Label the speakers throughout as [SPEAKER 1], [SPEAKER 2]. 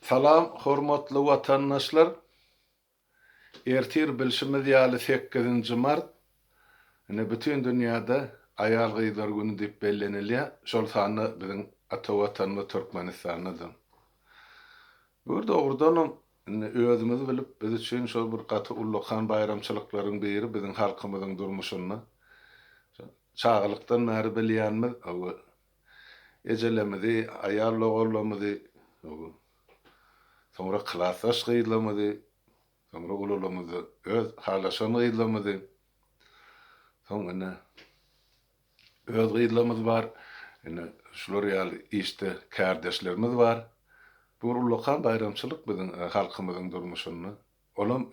[SPEAKER 1] Salam hormatly watandaşlar! Ertir bilşimiz ýaly sekizinji mart, ine bütin dünýäde aýal-gyzlar güni diýip bellenilýär, şol sanda biziň ata watanymyz Türkmenistanda-da. Bu bir dogrudanam indi özümiz bilip biz üçin şol bir gaty ullakan baýramçylyklaryň biri biziň halkymyzyň durmuşynda. Çagalykdan bäri bilýänimiz ejelerimizi, aýal logarlarymyzy, soňra klasdaş gyzlarymyzy, soňra ulularymyzy, öz halaşan gyzlarymyzy, soň ine, öz gyzlarymyz bar, ine, şular ýaly işde kärdeşlerimiz bar. Bu bir ullakan baýramçylyk biziň halkymyzyň durmuşynda. Olam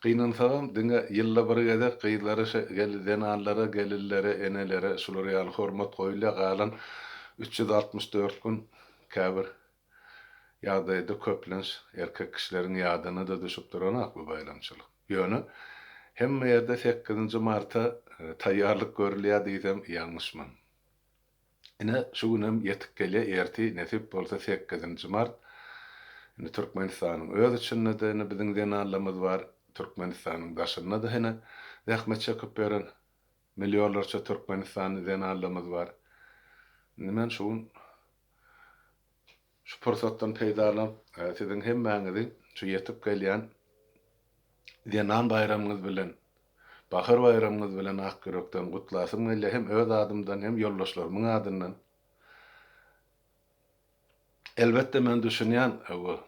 [SPEAKER 1] Gynansagam, diňe ýylda bir gezek gyzlara şe gel zenanlara, gelinlere, enelere şular ýaly hormat goýulýar, galan üç ýüz altmyş dört gün käbir ýagdaýda köplenç erkek kişileriň ýadyna-da düşüp duranok bu baýramçylyk. Ýöne, hemme ýerde sekizinji marta taýýarlyk görülýär diýsem ýalňyşman. Ine, şu günem ýetip gelýär, ertir, nesip bolsa, sekizinji mart. Indi Türkmenistanyň öz içinde-de indi biziň zenanlarymyz bar, Türkmenistanyň daşynda-da hene zähmet çekip ýören millionlarça türkmenistanly zenanlarymyz bar. Indi men şu gün. Şu pursatdan peýdalanyp, siziň hemmäňizi şu ýetip gelýän Zenan baýramyňyz bilen, Bahar baýramyňyz bilen ak ýürekden gutlasym gelýär, hem öz adymdan, hem ýoldaşlarymyň adyndan. Elbetde, men düşünýän, bu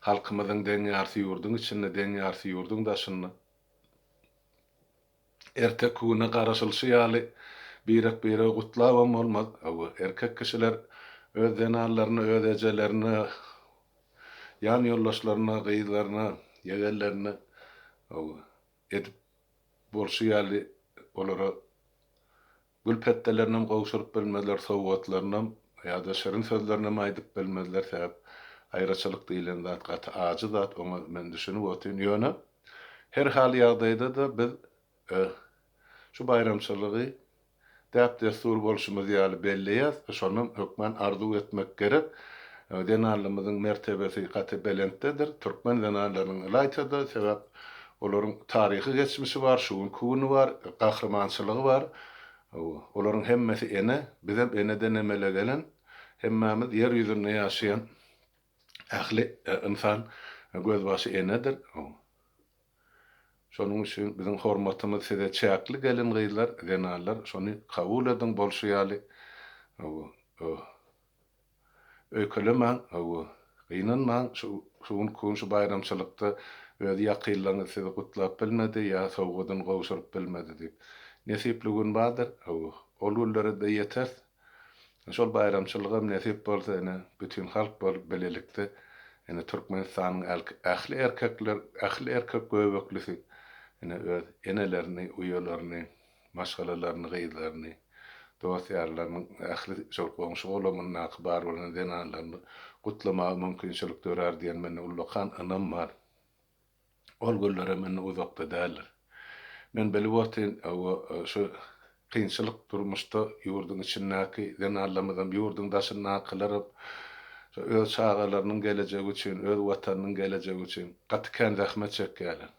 [SPEAKER 1] halkymyzyň deň ýarty ýurduň içinde, deň ýarty ýurduň daşynda. Erteki güne garaşylyşy ýaly, birek-biregi gutlabam bolmaz. Hawa, erkek kişiler öz zenanlaryna, öz ejelerine, ýanýoldaşlaryna, gyzlaryna, ýegenlerine, hawa, edip bolşy ýaly olara Gül petdelerinem gowşuryp bilmezler, sowgatlarynam ýa-da şirin sözlerinem aýdyp bilmezler, sebäp aýraçylyk diýlen zat gaty ajy zat, oňa men düşünip otyryn, ýöne her hal ýagdaýda-da biz şu baýramçylygy däp-dessur bolşumyz ýaly belleýäs, şondan hökmän arzuw etmek gerek, zenanlarymyzyň mertebesi gaty belentdedir, türkmen zenanlarynyň ylaýta-da, sebäp Olaryň taryhy geçmişi bar, şu günki güni bar, gahrymançylygy bar. Olaryň hemmesi ene, bizem eneden emele gelen, hemmämiz ýer ýüzünde ýaşaýan ähli ynsan gözbaşy enedir. Şonuň üçin biziň hormatymyz size çäkli gelin-gyzlar, zenanlar şony kabul ediň bolşy ýaly. Öýkelemäň, hawa, gynanmaň, şu gün Kun şu baýramçylykda öz ýakynlaryňyz sizi gutlap bilmedi ýa sowgadyny gowşuryp bilmedi diýip. Nesipli gün bardyr, hawa, ol günlere-de ýeteris. Şol baýramçylygam nesip bolsa, ine, bütin halk bolup bilelikde, ine, Türkmenistanyň ähli erkekler, ähli erkek göbeklisi, ine, öz enelerini, uýalaryny, maşgalalaryny, gyzlaryny, dost-ýarlarynyň, ähli şol goňşy-golamyndaky bar bolan zenanlaryny gutlamaga mümkinçilik dörär diýen mende ullakan ynam bar. Ol günlerem indi uzakda däldir. Men bilip otyryn, hawa, şu kynçylyk durmuşda ýurduň içindäki zenanlarymyzam, ýurduň daşyndakylaram şo öz çagalarynyň gelejegi üçin, öz Watanynyň gelejegi üçin gaty kän zähmet çekýärler.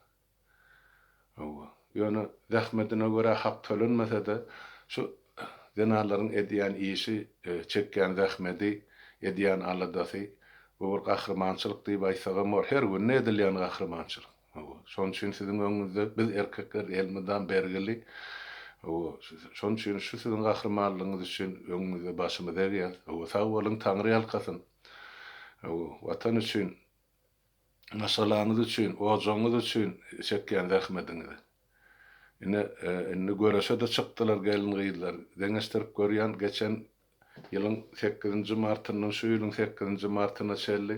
[SPEAKER 1] Hawa, ýöne zähmetine görä hak tölenmese-de, şu zenanlaryň edýän işi, çekýän zähmedi, edýän aladasy, bu bir gahrymançylyk diýip aýtsagam bolar. Her günde edilýän gahrymançylyk. Hawa, şonuň üçin siziň öňüňizde biz erkekler elmydam bergili. Hawa, şonuň üçin şu siziň gahrymanlygyňyz üçin öňüňizde başymyzy egýäs. Hawa, sag boluň, Taňryýalkasyn! Hawa, Watan üçin maşgalaňyz üçin, ojagyňyz üçin çekýän zähmediňizi. Ine, indi göreşe-de çykdylar gelin-gyzlar. Deňeşdirip görýän, geçen ýylyň sekizinji martyndan şu ýylyň sekizinji martyna çenli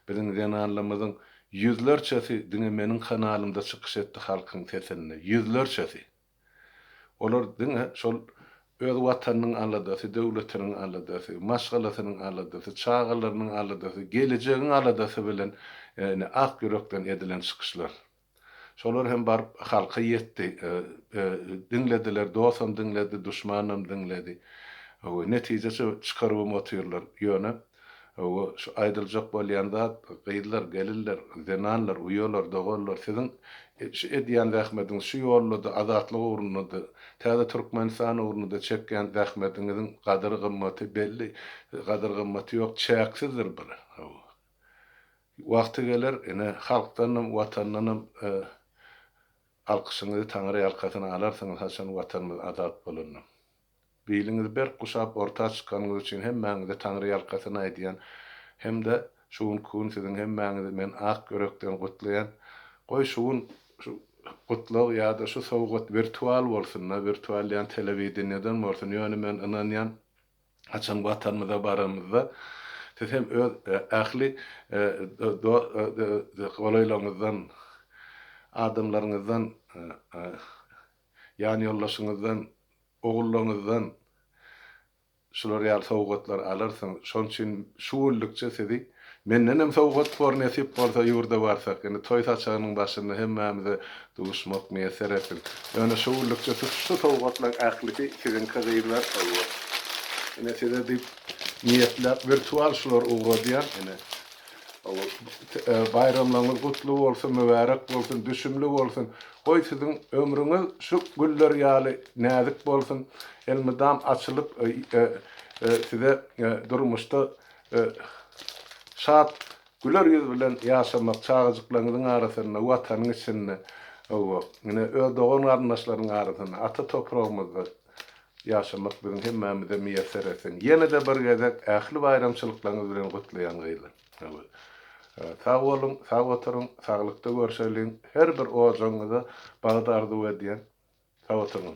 [SPEAKER 1] biziň zenanlarymyzyň ýüzlerçesi diňe meniň kanalymda çykyş etdi halkyň sesinde. Ýüzlerçesi. Olar diňe şol öz Watanynyň aladasy, döwletiniň aladasy, maşgalasynyň aladasy, çagalarynyň aladasy, gelejegiň aladasy bilen ine ak ýürekden edilen çykyşlar. Şolar hem baryp halka ýetdi. Diňlediler, dosam diňledi, duşmanam diňledi. Netije çykaryp hem otyrlar. Ýöne Hawa, şu aýdyljak bolýan zat, gyzlar, gelinler, zenanlar, uýalar, doganlar, siziň şu edýän zähmetiňiz, şu ýolda-da, azatlyk ugrunda-da, täze Türkmenistan ugrunda-da çekýän zähmetiňiziň gadyr-gymmaty belli, gadyr-gymmaty ýok, çäksizdir bir. Hawa. Wagty geler, ine, halkdanam, Watandanam alkyşyňyzy, Taňryýalkasyn alarsyňyz, haçan Watanymyz azat bolanda. Biliňizi berk guşap orta çykanyňyz üçin hemmäňize taňryýalkasyn aýdýan hem-de şu günki gün siziň hemmäňizi men ak ýürekden gutlaýan. Goý şu gün şu gutlag ýa-da şu sowgat wirtual bolsun-da, wirtual diýýän telewideniýeden bolsun, ýöne men ynanýan haçan watanymyza baramyzda siz hem öz ähli golaýlaryňyzdan, adamlaryňyzdan ýanýoldaşyňyzdan, ogullaryňyzdan şular ýaly sowgatlar alarsyň. Şonuň üçin şu günlükçe sizi mendenem sowgat bor, nesip bolsa ýurda barsak. Indi toý saçagynyň başynda hemmämize duşmak miýesser etsin. Ýöne şu günlükçe siz şu sowgatlaryň ählisi siziňki gyzlar. Hawa. Ine size diýip niýetläp wirtual şulary ugradýan. Ine. Hawa. Baýramlaryňyz gutly bolsun, mübärek bolsun, düşümli bolsun. Goý siziň ömrüňiz şu güller ýaly näzik bolsun, elmydam açylyp size durmuşda şat güler ýüz bilen ýaşamak, çagajyklaryňyzyň arasynda, Watanyň içinde, hawa, ine, öz dogan-garyndaşlaryň arasynda, ata topragymyzda ýaşamak biziň hemmämize miýesser etsin. Ýene-de bir gezek ähli baýramçylyklaryňyz bilen gutlaýan gyzlar. Sag boluň, sag oturyň, saglykda görşeliň, her bir ojagyňyza bagt arzuw edýän. Sag oturyň.